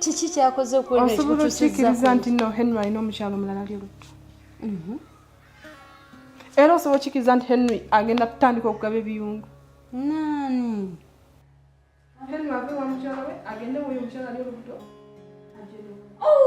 kiki kyakoze okuosobola okikiriza nti no henry alina omukyalo omulala ali olutto mhm. era osobola okikiriza nti henry agenda kutandika okugaba ebiyungu nani henry ave wa mukyala we agende woyo omukyala ali olutto oh,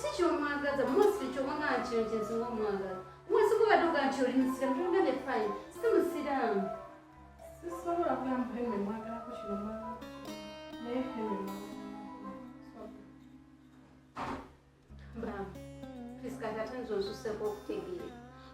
si kyomwagaza mosli kyobanga nkino kyensinga omwagaza mwesi kubaduga nti oli musiramu tolina ne fine si musiramu sisobola kugamba heme mwagalako kino mwaga naye heme mwaga Mama, please kati ate nze onsuseko okutegeera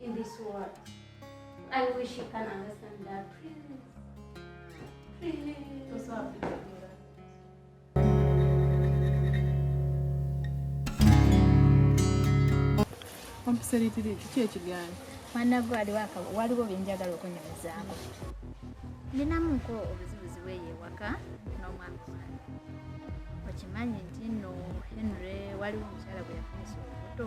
in this world. I wish you can understand that. Please. Please. I'm so happy to do that. ompiseritiri kiki ekigaanyi mwanagwe waliwo byenjagala okunyumizaako ninamuko obuzibuzi bweyo ewaka n'omwami wange okimanyi nti no henry waliwo omukyala gwe yafunisa olubuto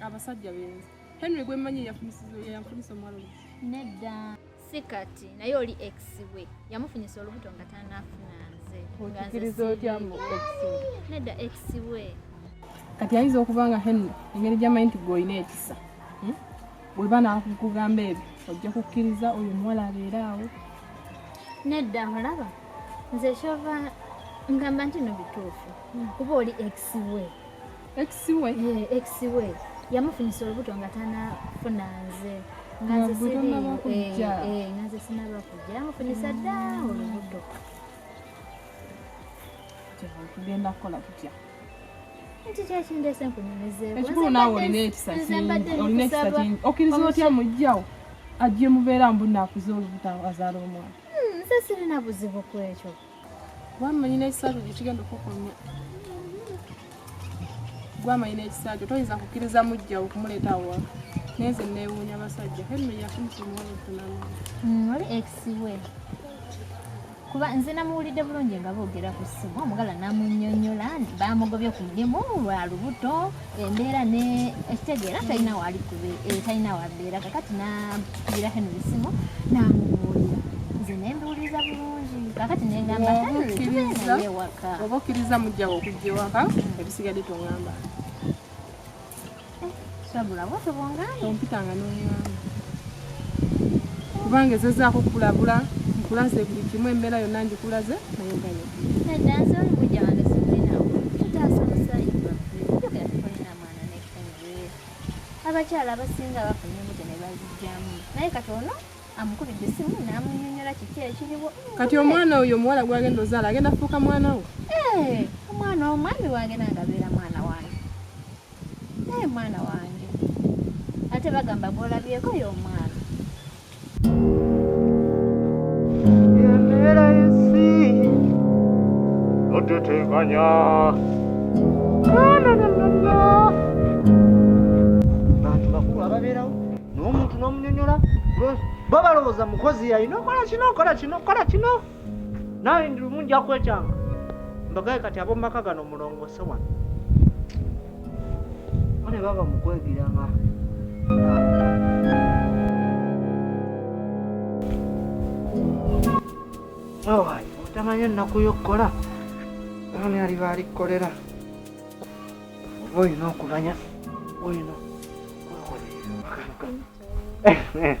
abasajja benzi henry gwemmanyi yafunisa omuwala nedda si kati naye oli ex we yamufunyisa olubuto nga tanafuna nze okikiriza otya mu ex nedda ex we kati ayinza okuba nga henry engeri gyamanyi nti gweolina ekisa hmm? bweba nakugamba ebyo ojja kukkiriza oyo omuwala abeere awo nedda mulaba nze kyova ngamba nti no bituufu hmm. kuba oli ex we ex we yeah, ex we yamufunyisa olubuto nga tanafuna nze nga nze sinaba kujja yamufunyisa dda olubuto tugenda kukola tutya nti kyekindeese nkunyumizeeko ekikulu naawe olina ekisa olina ekisa kingi okkiriza otya mujjawo ajje mubeera mbu naakuza olubuto azaala omwana hmm, nze sirina buzibu kwekyo gwamanyina ekisaajo gyekigenda okukunya gwamanyina ekisaajo toyinza kukkiriza mujjawo okumuleeta awaka naye nze neewuunya abasajja henry yakumukimwolutunamu mm, oli exiwe kuba nze namuwulidde bulungi nga boogera ku ssimu omugala namunyonyola bamugobye ku mulimu lwa lubuto embeera ne ekitegeera talina waali eh, talina wabeera kakati nakugira henry simu namubuulira nze nembiwuliriza bulungi kakati nengamba ewaka oba okkiriza mujjawo okujja ewaka ebisigadde tongamba sabula bwotobongambye ompitanga nongamba kubanga ezezaako okulabula nkulaze buli kimu embeera yonna ngikulaze naye gayo abakyala abasinga bafuna embuto ne bazijjamu naye kati ono amukubidde essimu n'amunyonyola kiki ekiriwo kati omwana oyo omuwala gwagenda ozaala agenda fuuka mwana wo eh, omwana omwami wange nangabeera mwana wange naye mwana wange ate bagamba gwolabyeko y'omwana embeera y'ensi totetenkanya bantu bakulu ababeerawo n'omuntu n'omunyonyola bo balowooza mukozi yalina okola kino okola kino okola kino naawe ndi lumu nja kwekyanga mbagaye kati ab'omu maka gano mulongoose wano mune baba mukwegiranga owaye otamanya ennaku y'okukola ani aliba alikukolera oba olina okumanya olina okwekolerera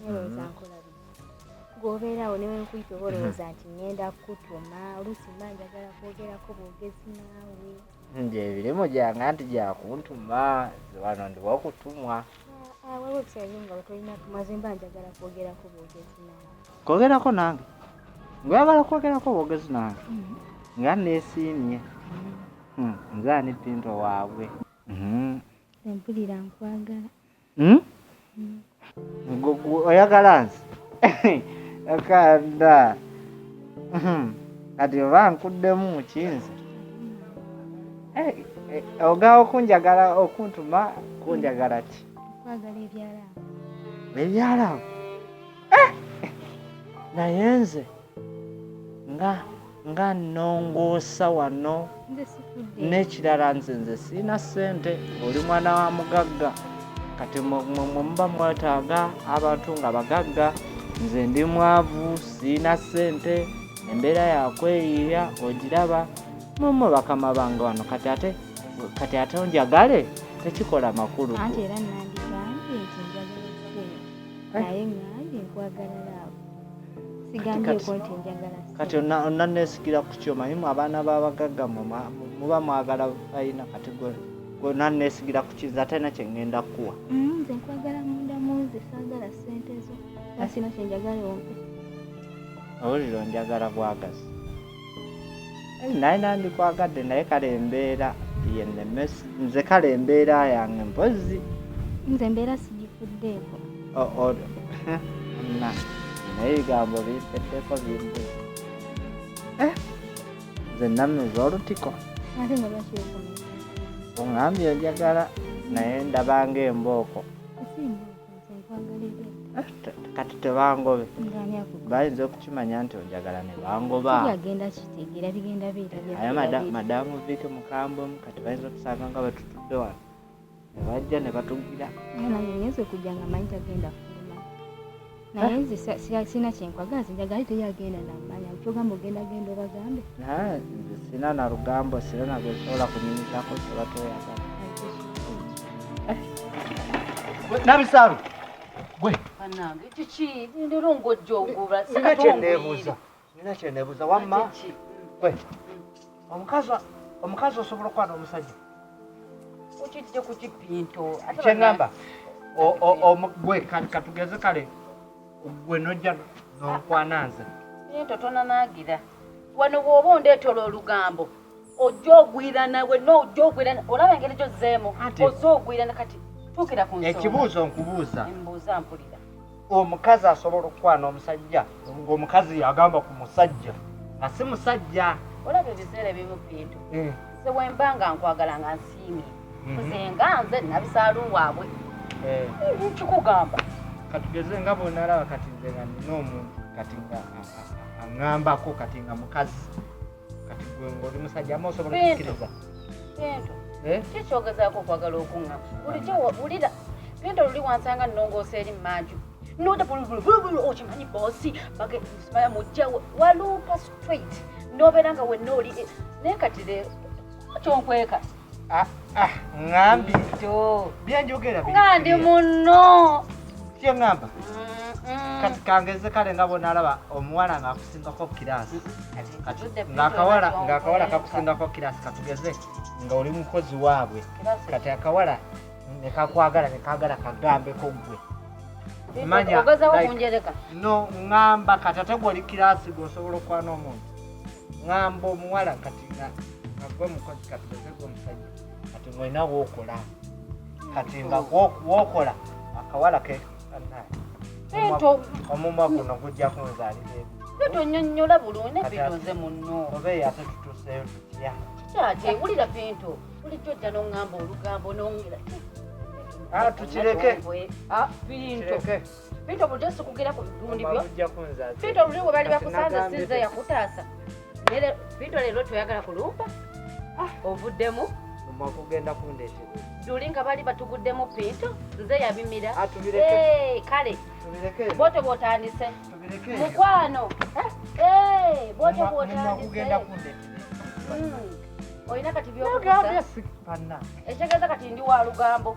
Nalowooza mm-hmm. nkola gwobeerawo ne wenkuyita oba olowooza nti ngenda kukutuma oluusi mba njagala kwogerako bwogezi naawe nti ebirimu gyange anti gyakuntuma wano ndiwa okutumwa waliwo ebiseera nga wetolina tumaze mba njagala kwogerako bwogezi naawe kwogerako nange ngwagala kwogerako bwogezi nange mm-hmm. nga neesiimye mm-hmm. hmm, nze ani pinto waabwe mm-hmm. empulira nkwagala hmm? oyagala nsi akanda hmm. kati oba nkuddemu mukinzi eh, eh, oga okunjagala okuntuma kunjagala ki ebyalawo eh! naye nze nga nga nnongoosa wano n'ekirala nze nze sirina ssente oli mwana wa mugagga kati mwe muba mwetaaga abantu nga bagagga nze ndi mwavu sirina ssente embeera yakweyiiya ogiraba mumu bakama bange wano kati ate kati ate onjagale tekikola makulu anti era nandibambye nti njagala ssente eh. naye ngange nkwagala kati onanesikira ku kyo manyimu abaana babagagga muba mwagala ayina kati onanesikira ku kiza atalina kyengenda kukuwa mm, nze nkwagala munda munze sagala sente zo asina kyenjagala ompe awulira onjagala bwagazi naye nandikwagadde naye kale embeera yenemesi nze kale embeera yange mpozi nze embeera sigifuddeeko na naye ebigambo bimpeddeko bimbu eh, nze namuza olutiko ate nga lwakiwekumi oŋambye enjagala naye ndabanga embooko kati tebangobe bayinza okukimanya nti onjagala ne bangoba aye madamu viike mukambwe mu kati bayinza okusanga nga batutudde wano nebajja ne batugira naye nze sirina kyenkwagala nze njagala ite yagenda namanya kyogamba ogenda genda obagambe sina na lugambo sirina gwesobola kunyumizako sobatweyagala Nabisaalu gwe banange kiki ndero ngojja ogula nina kyeneebuuza nina kyeneebuuza wamma gwe omukazi omukazi osobola okuba n'omusajja okijja ku kipinto kyeŋamba gwe katugeze kale gwe nojja nonkwana nze naye totonanagira wano bw'oba ondeetola olugambo ojja ogwira nawe no ojja ogwira olaba engeri gyozzeemu ozze ogwira ne kati tuukira ku nsonga ekibuuzo nkubuuza embuuza mpulira omukazi asobola okukwana omusajja ng'omukazi agamba ku musajja nga si musajja olaba ebiseera ebimu bintu eh. nze wemba nga nkwagala nga nsiimye mhm. nze nga nze nabisaalu waabwe eh. kikugamba katugeze nga bwonalaba kati nze nga nina omuntu kati nga aŋambako kati nga mukazi kati gwe ng'oli musajja ama osobola okukkiriza bintu eh? ki kyogezaako okwagala okuŋŋa bulijjo wulira bintu oluli wansanga nnongoosa eri mmanju noda bulubulubulu okimanyi boosi bagemaya mujja waluupa straight n'obeera nga wenna oli eh, naye kati le kyonkweka Ah, ah, ngambi kyo byenjogera ngandi muno kye ngamba kati kangeze kale nga bona alaba omuwala ng'akusingako kirasi ng'akawala ng'akawala kakusingako kirasi katugeze nga oli mukozi waabwe kati akawala nekakwagala nekagala kagambeko gwe manya no ngamba kati ate gwe oli kirasi gwe osobola okwana omuntu ngamba omuwala kati nga agwe mukozi kati ezegwe omusajja kati mwena wokola kati nga wokola akawala ke omumwa guno gujja kunzalira ebi tonyonyola bulungi nebinoze muno oba eyate tutuseyo tutya kikyate wulira bintu bulijjo ojja nongamba olugambo nongera ah, tukireke ah, bintu Pito bulijjo sikugera ku bibundi byo. Pito bulijjo bwe bali bakusanze sinze yakutaasa. Nere Pito leero toyagala kulumba. Ah, ovuddemu. Mumwa kugenda kundeetera. Juli nga bali batuguddemu Pito nze yabimira. Ah, hey, kale. Bote bwotandise. Mukwano. Eh, hey, bote bwotandise. Mumwa kugenda kundeetera. Hmm. Olina kati by'okusa. Ekitegeeza kati ndi wa lugambo.